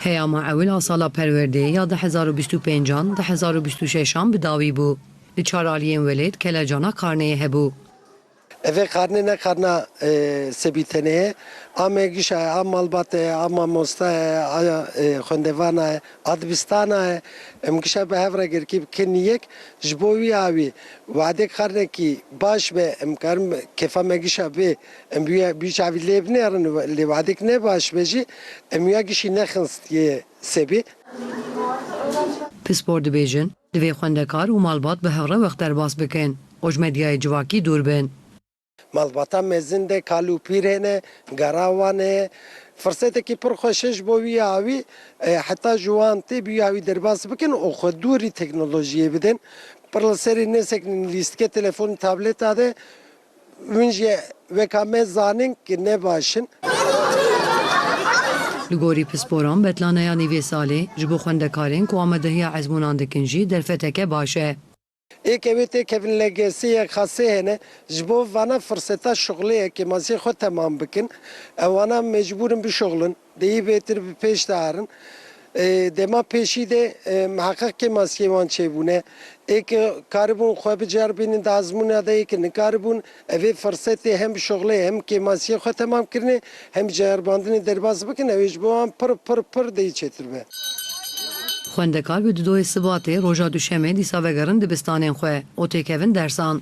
Peyama ewil a sala perwerdeyê ya di hezar û bîst û pênc an di hezar û bîst û şeş an bi dawî bû. Li çar aliyên welêt kelecana karneyê hebû. Evê karne ne karna sebîtenê ye. A mengişa ye, a malbate ye, a mamosta ye, a xwendevana ye, a dibistana ye. Em gişa bi hev re gerkî bikin yek. Ji bo wî a wî. Wadê karnekî baş be em karin kêfa mengişa bê. Em bûye bî çavî lê binêrin lê wadek ne baş be jî em wîya gişî nexinst yê sebî. Pispor dibêjin, divê xwendekar û malbat bi hevre wext derbas bikin û ji medyayê civakî dûr bin. Malbata mezin de kal û pîrê ne, gera wan e. Firsetekî pir xweş e ji bo wî ya wî heta ji wan tê bi wî ya wî derbas bikin û xwe dûrî teknolojiyê bidin. Pir li serê nesekinîn lîstikê, telefonê, tableta de Hûn jî weka me zanin ku ne baş in. Li gorî pisporan betlaneyanî vê salê, ji bo xwendekarên ku amadehiya ezmûnan dikin jî derfeteke baş e. Ê ke wê tê kevin LGS'ê yek xasê hene ji bo vana firseta şuxlê yekê masiyê xwe temam bikin. Ew ana mecbûr in bişuxlin. Di yî bêtir bi pêş de herin. Dema pêşî de miheqeq kê maskeyên wan çêbûne. Ê ke karibûn xwe biceribînin di azmûna de yê ke nikaribûn, ev ê firsetê hem şixlê hem kê maskeyê xwe temam kirinê hem ceribandinê derbas bikin ew ê ji bo wan pir pir pir di yî çêtir be. Xwendekar bi dudoyê Sibatê, roja Duşemê dîsa vegerin dibistanên xwe û têkevin dersan.